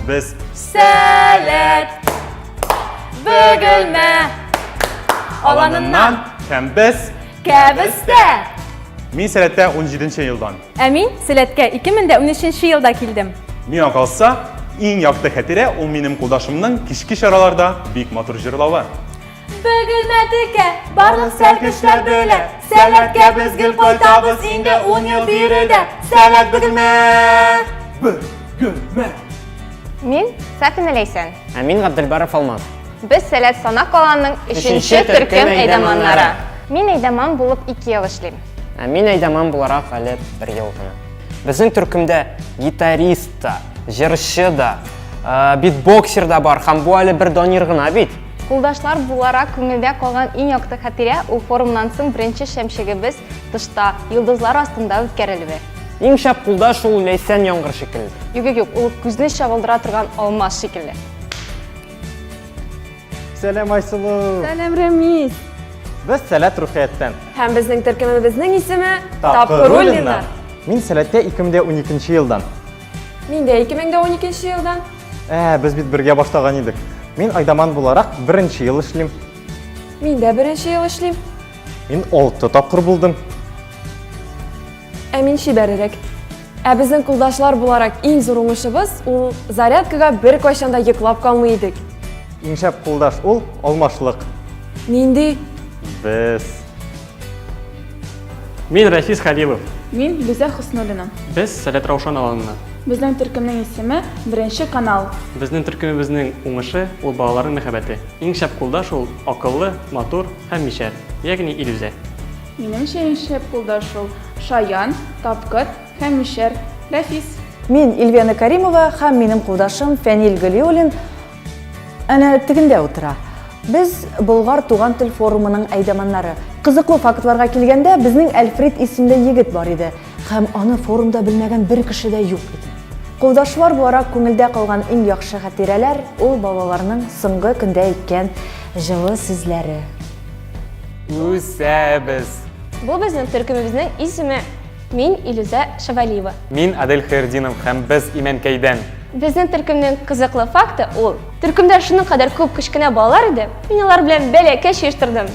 Без Сәләт! Бөгелмә! Аланыннан һәм без Кәбестә! Мин сәләттә 17 елдан. Ә мин сәләткә 2013 елда килдем. Миңа калса, иң якты хәтирә ул минем кулдашымның кичке чараларда бик матур җырлавы. Бөгелмә текә, барлык сәркешләр белә. Сәләткә без гел кайтабыз инде ун ел биредә. Сәләт бөгелмә! Бөгелмә! Мин Сафина Ләйсән. Ә мин Габделбаров Алмаз. Без Сәләт Сана каланың өченче төркем әйдәманнары. Мин әйдәман булып ике ел эшлим. Ә мин әйдәман буларак әле бер ел гына. Безнең төркемдә гитарист та, җырчы да, битбоксер да бар һәм бу әле бер донер гына бит. Кулдашлар буларак күңелдә калган иң якты хатирә ул форумнан соң беренче шәмчегебез тышта, йолдызлар астында үткәрелүе. Иң шәп кулдаш ул Ләйсән яңгыр шикелле. Юк-юк-юк, ул күзне чагылдыра торган алмаз шикелле. Сәлам, Айсылу! Сәлам, Рәмис! Без Сәләт Рухияттән. Һәм безнең төркемебезнең исеме Тапкыр Рулиннар. Мин Сәләткә 2012 елдан. Мин дә 2012 елдан. Ә, без бит бергә башлаган идек. Мин Айдаман буларак беренче ел эшлим. Мин дә беренче ел эшлим. Мин 6 тапкыр булдым. Ә мин чибәрерәк. Ә безнең кулдашлар буларак иң зур уңышыбыз ул зарядкага бер кайчан да йоклап калмый идек. Иң шәп кулдаш ул алмашлык. Нинди? Без Мин Рафис Халилов. Мин Лиза Хуснуллина. Без Сәләт Раушан аланына. Безнең төркемнең исеме Беренче канал. Безнең төркемебезнең уңышы ул балаларның мәхәббәте. Иң шәп кулдаш ул акыллы, матур һәм мишәр, ягъни Илүзә. Минемчә иң шәп кулдаш ул шаян, тапкыр һәм мишәр Рафис. Мин Ильвена Каримова һәм минем кулдашым Фәнил Гөлиуллин Әнә тегендә утыра. Без Болгар туган тел форумының әйдәманнары. Кызыклы фактларга килгәндә, безнең Әлфрид исемле егет бар иде һәм аны форумда белмәгән бер кеше дә юк иде. Кулдашлар бу ара күңелдә калган иң яхшы хатирәләр, ул балаларның соңгы көндә әйткән җылы сүзләре. Үсәбез! Бу безнең төркемебезнең исеме. Мин Илүзә Шавалиева. Мин Адель Хәердинов һәм без Имәнкәйдән. Безнең төркемнең кызыклы факты ул. Төркемдә шуның кадәр күп кечкенә балалар иде, мин алар белән бәләкәч оештырдым.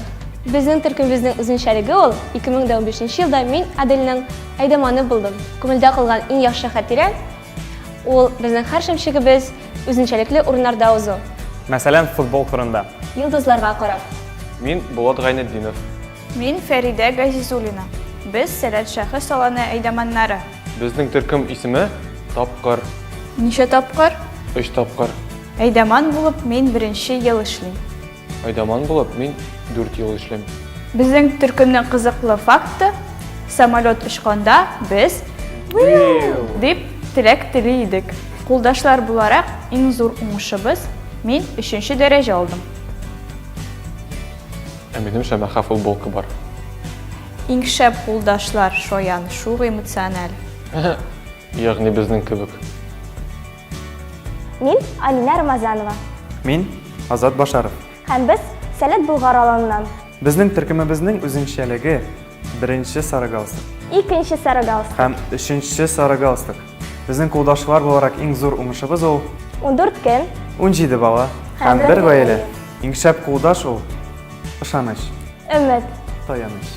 Безнең төркемебезнең үзенчәлеге ул, 2015 елда мин Адельнең әйдаманы булдым. Күңелдә калган иң яхшы хатирә ул безнең һәр шәмшегебез үзенчәлекле урыннарда узу. Мәсәлән, футбол кырында. Йолдызларга карап. Мин Булат Гайнетдинов. Мин Фәридә Газизуллина. Без Сәләт шәхес салоны әйдаманнары. Безнең төркем исеме, Тапкыр. Ничә тапкыр? Өч тапкыр. Әйдаман булып мин беренче ел эшлим. Әйдаман булып мин дүрт ел эшлим. Безнең төркемнең кызыклы факты, самолет очканда без Уиу! дип теләк тели идек. Кулдашлар буларак иң зур уңышыбыз, мин өченче дәрәҗә алдым. Ә минем шәмәхә футболка бар. Иң шәп кулдашлар, шаян, шук эмоциональ. Ягъни безнең кебек. Мин Алинә Рамазанова. Мин Азат Башаров. Һәм без Сәләт Болгар аланыннан. Безнең төркемебезнең үзенчәлеге, беренче сары галстук. Икенче сары галстук. Һәм өченче сары галстук. Безнең кулдашлар буларак иң зур уңышыбыз ул. Ундүрт көн. Унҗиде бала. Һәм бер гаилә. Иң шәп кулдаш ул. Ышаныч. Өмет. Таяныч.